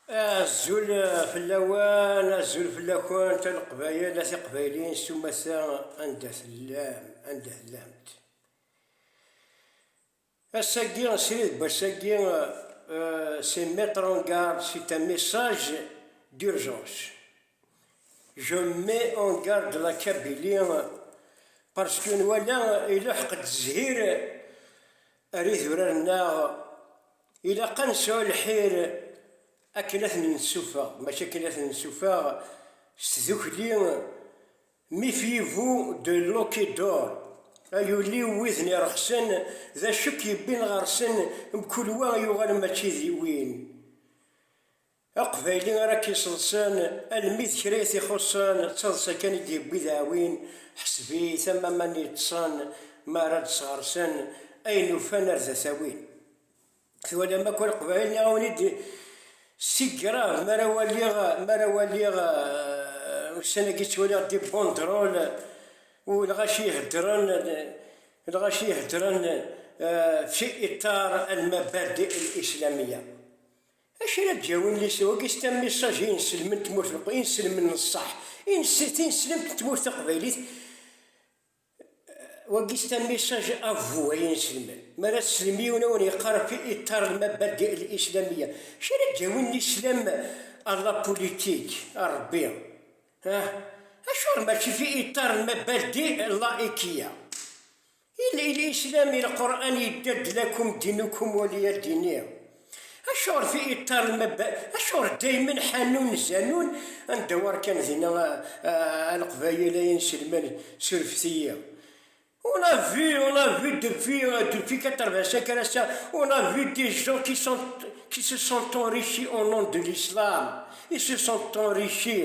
Azul fell-awen, azul fell-akent a Leqbayel, a Tiqbayliyin s umata anda tellam, anda tellamt. Ass-agi, srid n wass-agi, c'est euh, mettre en garde, c'est un message d'urgence. Je mets en garde la Kabylie parce que nwala iluḥeq-d zzhir Ar idurar-nneɣ, ilaq ad nesɛu lḥir akken ad ten-nessufeɣ, mačči akken ad ten-nessufeɣ s tdukli Méfiez-vous de l'eau qui dort, ay ul-iw widen ireqsen, d acu i k-yewwin ɣer-sen, mkul wa yuɣal mačči d win. Aqbayli ara k-iṣeḍṣen, almi d kra i t-ixuṣṣen, d taḍsa kan i d-yewwi dɛwin, ḥseb-it am aman yeṭṭṣen, mi ara d-sɣersen, ayen ufan ar da t-awin. Twalam akk Leqbayel neɣ a wen-id si grave mi ara waliɣ, mi ara waliɣ, ussan-agi ttwaliɣ des banderoles u lɣaci iheddren, lɣaci iheddren fi iṭar almabadi el-islamiya. Acu ara d-yawin lisew-agi s tama messages i inselmen n tmurt n i inselmen n ṣṣeḥ, tineslemt n tmurt taqbaylit wagi s tama messages à vous ay ineselmen, mi ara teslem i yiwen a wen-yeqqar fi iṭṭar n mabadi el islamiyya, acu ara d-yawin lislam à la politique, a Rebbi? ah? Acuɣer mačči fi iṭṭar n mabadi el laïkiyya? Yella yella islam i lqur'an yedda-d lakum dinukum waliya dini. Acuɣer fi iṭṭar lmabba, acuɣer daymen ḥanun zanun anda war kan dinna a leqbayel ay inselman surfet-iyi. On a vu, on a vu depuis, depuis 85 ar ass-a, on a vu des gens qui sont, qui se sont enrichis au nom de l'islam, ils se sont enrichis.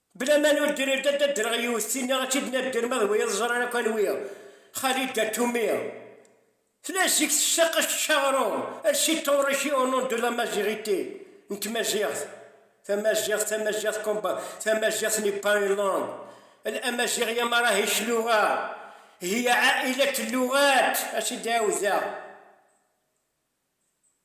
Bla ma ur d-rriɣ ad d-ddreɣ yiwet tinna ad tt-id-nadder ma d wiyaḍ ẓran akk anwi, Khalida Toumi, tella zik tessaqec Charon, elle s'est enrichie au nom de la maziɣité, n tmaziɣt, tamaziɣt, tamaziɣt combat, tamaziɣt n'est pas une langue, elle amaziɣya marahish luɣa, hiya a'ilat luɣat, as-d-ɛiwdeɣ.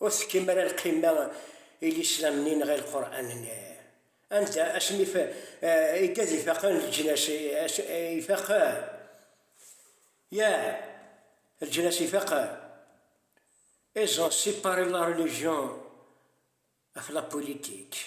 Ur tekkim ara lqima i Lislam-nni-nneɣ i Lqur'an-nni. Anda asmi i ad ifaqen leǧnas ifaqen? Yah, leǧnas ifaqen. Ils ont separé la religion of la politique.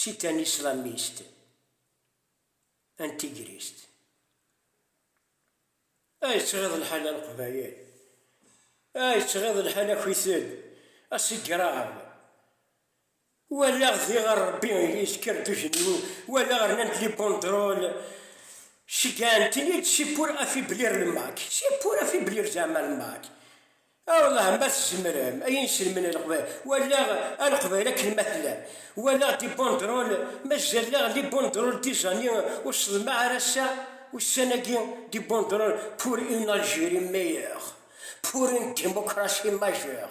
Si tanislamist, antigrist. Ay yettɣiḍ lḥal a leqbayel! Ay yettɣiḍ lḥal akwitel, asigrav! Walaɣ diɣer Rebbi yezker d ujenwi, walaɣ rnan-d li bondrol, cegɛen-ten-id, c'est pour affaiblir le Mac, c'est pour affaiblir zeɛma le Mac. A welleh ma tzemrem ay inselmen n leqbayel, walaɣ a leqbayel akken ma tellam, walaɣ des banderoles, mazal daɣ les banderoles des années ur sḍelmeɣ ara ass-a, ussan-agi, des banderoles pour une Algérie meilleure, pour une démocratie majeure.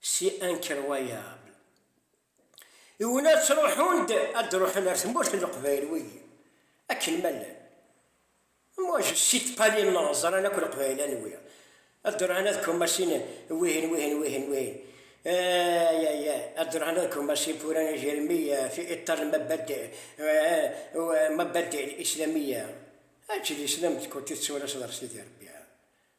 si incroyable i win ad truḥun ad d-ruḥen ar tmurt n leqbayel wigi akken ma llan moi je cite pas les noms ẓran akk leqbayel anwi ad d-ruḥen ad kumasin wihin wihin wihin wihin ay ay ay ad d-ruḥen ad kumasin furan ijermiya fi iṭar lmabadi mabadi islamiya aǧ d islam d kuti tsuras d rsidi rebbi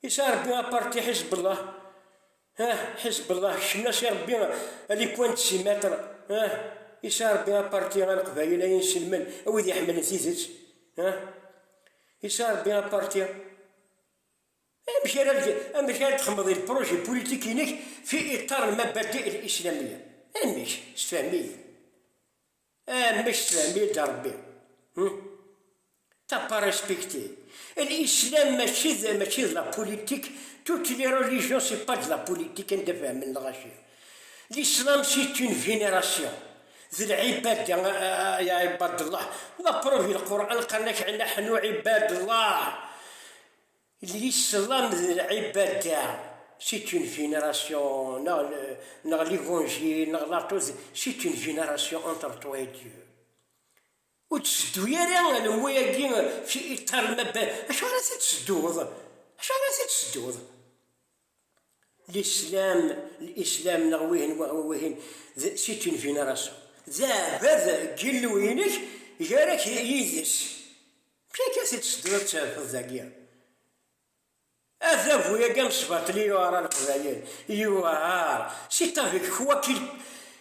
Is a Rebbi a parti Hezbollah, ah, Hezbollah, kecmen-as i Rebbi a li coin de six mètres, ah, is a Rebbi a parti a Leqbayel, a inselmen, a wid iḥemmlen tidet, ah, is a Rebbi a parti. Amek ara amek ara txemmeḍ il projet politique inek fi iṭar mabadi il islamiyya? Amek? Sefhem-iyi. Am bac tefhem-iyi-d a Rebbi hum? T'as pas respecté. L'islam mačči d mačči d la politique, toutes les religions c'est pas de la politique anda fehmen lɣaci. L'islam c'est une vénération, d lɛibada ya ibad Allah, la preuve lquran qqaren-ak nahnu ibad Allah. Il yesseḍlam d lɛibada, c'est une vénération, neɣ neɣ l'évangile, neɣ l'atout, c'est une vénération entre toi et Dieu. Ur d-seddu ara alemmu-agi fi iṭarem abad, acu ara t-id-sedduḍ? Acu ara t-id-sedduḍ? Lislam, l-islam neɣ wihin wahwa wihin, d c'est une vénération. D aɛbad n Yillu-inek, gar-ak yid-s. Amek akka t-id-tsedduḍ ad t-terfeḍ dagi? Adabu-agi amesbaṭli yuɛer a Leqbayel, yuɛer, c'est avec quoi qu'il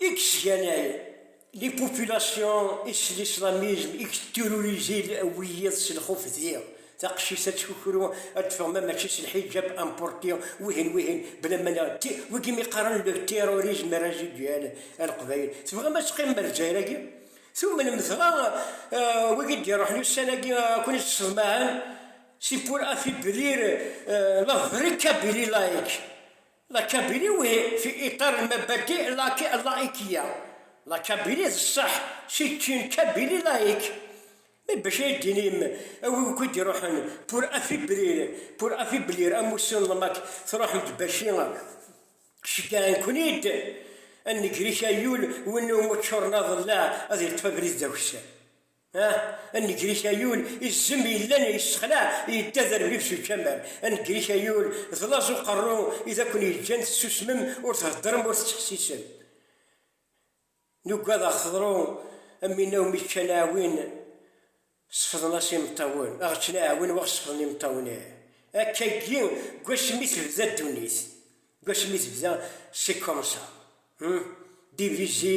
i yesganay les populations et l'islamisme, i yettirurizi wiyiḍ s lxuf d taqcict ad tkukru ad teffeɣ ma mačči s lḥijab amporti wihin wihin blamana ti wigi mi qqaren le terrorisme residuel a leqbayel tebɣam ad teqqimem ar Lezzayer-agi tumnem dɣa wigi d-iruḥen ussan-agi ad ken-id-sseḍmaɛen c'est pour affaiblir la vraie Kabylie laïque La Kabili we fi iṭar n mabadi laki llaikiya. La Kabili d ṣṣeḥ, c'est une Kabylie laïque. Mais bac ay d-tinim a wi akk i d-iruḥen pour affaiblir, pour affaiblir amussu n lmak, truḥem-d baci ceggɛen-ken-id a nnegrika yul win umi ččuren aḍellaɛ ad yeṭṭef abrid d akessar. Anegrik Ayul izzem yellan yessexlaɛ yedda d arbib s ucamar. Anegrik Ayul d laẓ uqerru i d akun-yeǧǧan tessusmem ur theddrem ur tettḥessisem. Nugad aɣ teḍru am winna umi ččan aɛwin sefḍen-as imeṭṭawen, aɣ ččen aɛwin waɣ sefḍen imeṭṭawen ih. Akkagi gwasmi tebda ddunit, gwasmi tebda c'est comme ça hum, divisé.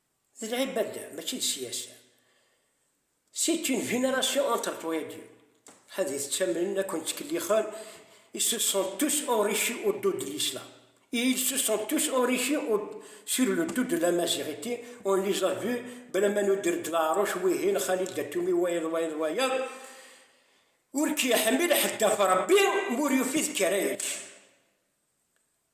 D lɛibada mačči d siyasa. C'est une génération entre toi-agi. Ad it-ttamnen ad ken-ttkellixen Ils se sont tous enrichis au dos de l'islam. Et ils se sont tous enrichis au sur le dos de l'amaziɣiti, on les a vus balama nuder-d leɛruc wihin Khalil Datoumi wayeḍ wayeḍ wayeḍ. Ur k-yeḥmil ḥedd ɣef Rebbi m'ur yufi d kra yečč.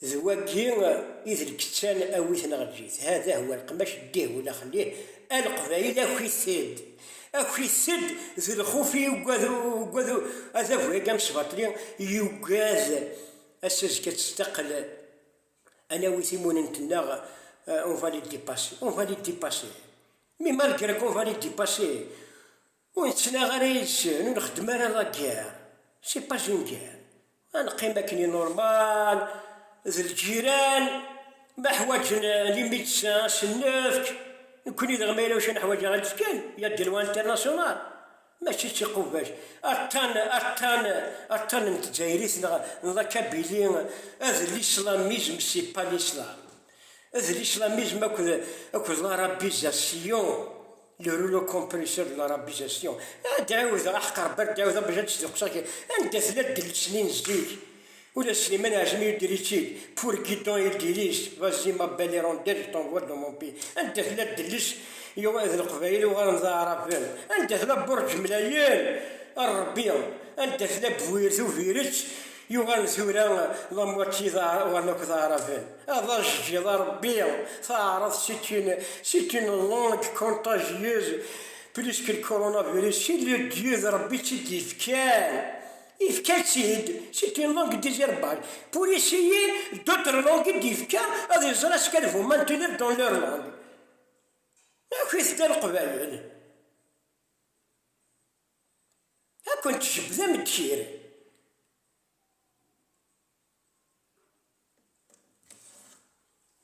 D wagi i d lkettan awit neɣ eǧǧit, hada huwa leqmac ddih wula xellih, a leqbayel akit-ed, akit-ed d lxuf i yugad ugad adabu-agi amesbaṭli yugad ass azekka ad testaqel ad nawi timunent-nneɣ on va les depasser, on va les depasser mais malgré qu'on va les depasser, Ur nettnaɣ ara yid-sen, ur nxeddem ara la guerre, c'est pas une guerre, ad neqqim akken i normal d lǧiran, ma ḥwaǧen les médecins ad sen-nefk, nekkni daɣ ma yella wacu neḥwaǧ ad aɣ-nefk kan, il y a des lois internationales, mačči d tiqubbact, attan, attan, attan n tdzayrit neɣ n la Kabylie, ad l-islamisme, c'est pas l'islam. D l'islamisme akked, akked l'arabisation, le rouleau compresseur de l'arabisation. Ad d-ɛiwdeɣ aḥqer bad, d-ɛiwdeɣ bac ad d-sdeqseɣ kra. Anda tella ddelt-nni n zik? Ula Slimane Ɛjmi yedder-itt-id, pour Guidon il dirige, vas-y ma belle hirondelle, je t'envoie dans mon pays. Anda tella ddelt yuɣ d leqbayel uɣalen d aɛraben? Anda tella Burǧ Mlayen? A Rebbi! Anda tella Bwirt Ubiret? Yuɣal tura d amwati d aɛrawan akked aɛraben. Ad aɣ-jjiḍ a Rebbi, taɛraḍt c'est une c'est une langue contagieuse plus que le coronavirus, c'est le Dieu d Rebbi i tt-id-yefkan, yefka-tt-id, c'est une langue désertbal, pour essayer d'autres langues i d-yefka ad iẓer est-ce qu'elles vont maintenir dans leur langue. Akk-it-id a Leqbayel. Ad kent-jebbden ddkir.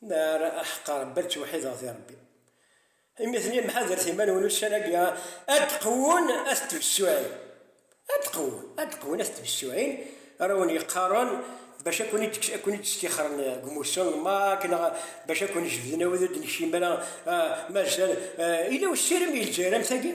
Ma ara aḥeqqar Rebbi ad ttewḥideɣ di Rebbi. Imi d lemḥadret iman-nwen ussan-agi ad d-qwun at tbessuɛin. Ad d-qwun, ad d-qwun at tbessuɛin ara wen-yeqqaren bac ad kwen-id-stixren deg umussu n Mak neɣ bac ad kwen-jebden awid ur d-nekcim ara, mazal yella usirem i Lezzayer am tagi?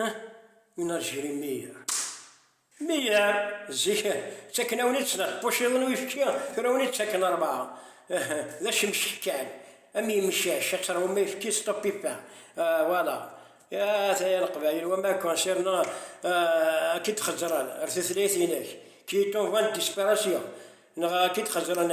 Huh? yenna Jerry Meyer. Meyer, zik, ttaken-awen-itt neɣ tpuciḍ n uyefki, tura wen ittaken rebɛa. Uh, d acemcek kan, am yemcac, ad teṛwum ayefki s ṭupipa. Uh, voilà. At ay a Leqbayel, wa ma concernant uh, ad k-id-xezzren ar tutlayt-inek, qui est en voie de disparition, neɣ ad k-id-xezzren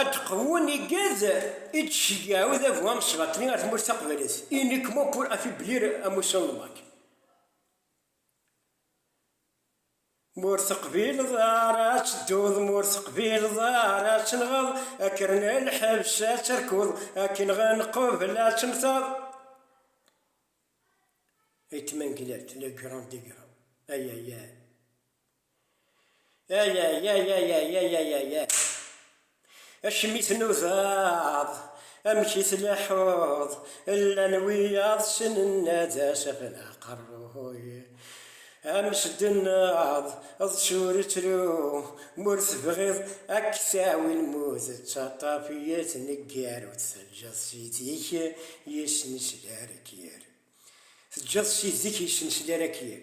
Ad d-qewwen igad i d-tceyyeɛ udabu amesbaṭli ar tmurt taqbaylit, uniquement pour affaiblir à motion de marque. Ma ur teqbileḍ ara ad tedduḍ, ma ur teqbileḍ ara ad tenɣeḍ, akker n lḥebs ad terkuḍ, akken ɣen qubel ad temmteḍ. Ayt Manglert, le grand degrau, ay ay ay. Ayayayayayayayayayay Acimi tnudaḍ Amek i tleḥḥuḍ Llan wiyaḍ ssnen ad as-afen aqerruy Amesdennaḍ d turettru M'ur tebɣiḍ ad k-tawi lmut D taṭṭaf i tneggar Ur teǧǧeḍ ssid-ik yesnesler akyir Teǧǧeḍ ssid-ik yesnesler akyir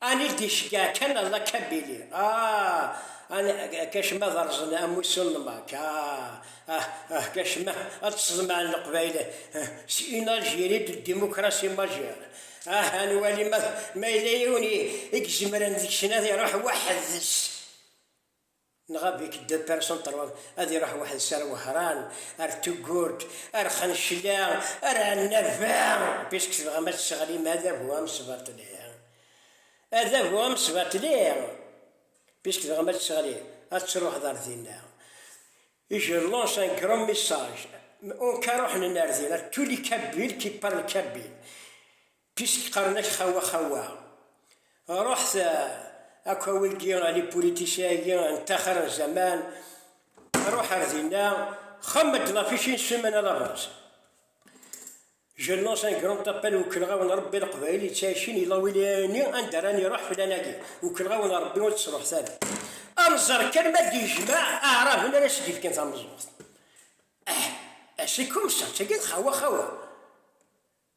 Anil d-iceggeɛ kan Allah Kabili, ah! An, kacma ad rrẓen amussu n Mack, ah! Ah, ah, kacma ad tt-sḍemɛen Leqbayel, ah! S une Algérie de démocratie majeure, ah! Ad nwali ma, ma yella yiwen i, i izemren deg-sen ad iruḥ weḥd-s. Nɣa Bik deux personnes trois ad iruḥ weḥd-s ar Wehran, ar Tugurt, ar Xencla, ar Ɛennaba, puisque tebɣam ad tesseɣlim adabu amesbaṭli, adabu amesbaṭli, puisque tebɣam ad tesseɣlim, ad truḥeḍ ar dinna. Et je lance un grand message, on ka ruḥen ar dinna, tous les Kabyles qui parlent kabyle, Pisk qqaren-ak xawa xawa. Ruḥet akk a wigi a li politiciens-agi n taxir n zaman, ruḥ ar dinna, xemmem-d ɣef ici n Summen a labaz. Je lance un grand appel Ukellɣawen Rebbi Leqbayel yettɛicin yella win yini anda ara niruḥ fell-anagi. Ukellɣawen Rebbi ur tt-truḥet ara. A nẓer kan ma d-yejmaɛ aɛraben ara s-d-ifken tameẓẓuɣt. Ah! Ah c'est comme ça, d tagi d xawa xawa.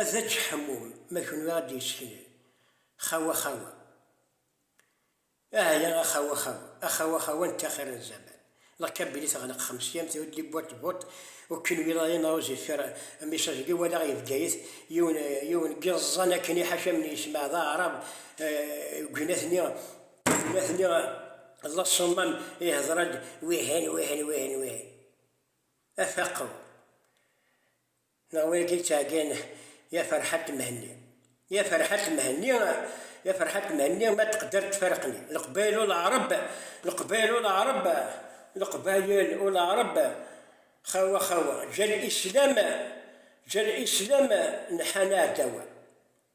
Ad ečč ḥemmum ma kunwi ad d-yesseknel xawa xawa ahya a xawa xawa a xawa xawa n taxir n zaman lqi belli teɣleq xemsiyamt ur d-li buṭ buṭ u kunwi dayen a uzifer message li walaɣ i Bgayet yiwen yiwen n yiẓẓan akken i ḥaca mi yesmaɛ d aɛrab gin atni gin atni la summam ihder-d wihin wihin wihin wihin a faqew Neɣ win akka yettɛeggin Ya Ferḥat Mhenni Ya Ferḥat Mhenni Ya Ferḥat Mhenni Ma teqder tfarreq-nni Leqbayel u Leɛreb Leqbayel u Leɛreb Leqbayel u Leɛreb Xawa xawa Ǧǧan islam Ǧǧan islam Nḥan aɛdaw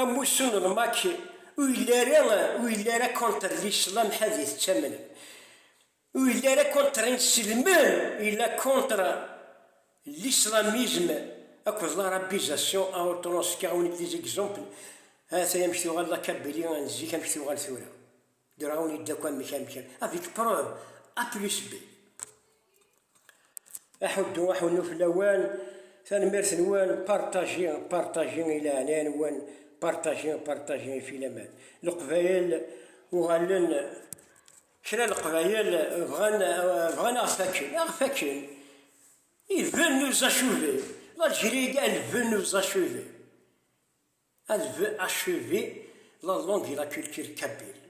Amussu n lmatch ur yelli ara ur yelli ara contre l'islam ḥad yettamen ur yelli ara contre inselmen yella contre l'islamisme akked l'arabisation a autant s kra ur nelli d exemple ha-t-ay amek tuɣal la Kabylie n zik amek tuɣal tura. Graun yedda akk amek amek avec preuve A plus B. Aḥuddu aḥunnu fell-awen, tanemmirt-nwen, partager, partager i leɛnaya-nwen, partager, partager i filaman. Leqbayel uɣalen, kra leqbayel bɣan, bɣan aɣ fakken, aɣ fakken. Ils veulent nous achever. L'Algérie, elle veut nous achever. Elle veut achever la langue et la culture kabyle.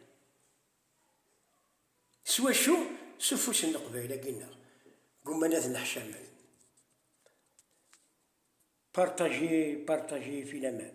S wacu? S ufus n leqbayel-agi-nneɣ. Ggumman ad nneḥcamen. Partagez, partagez, filaman.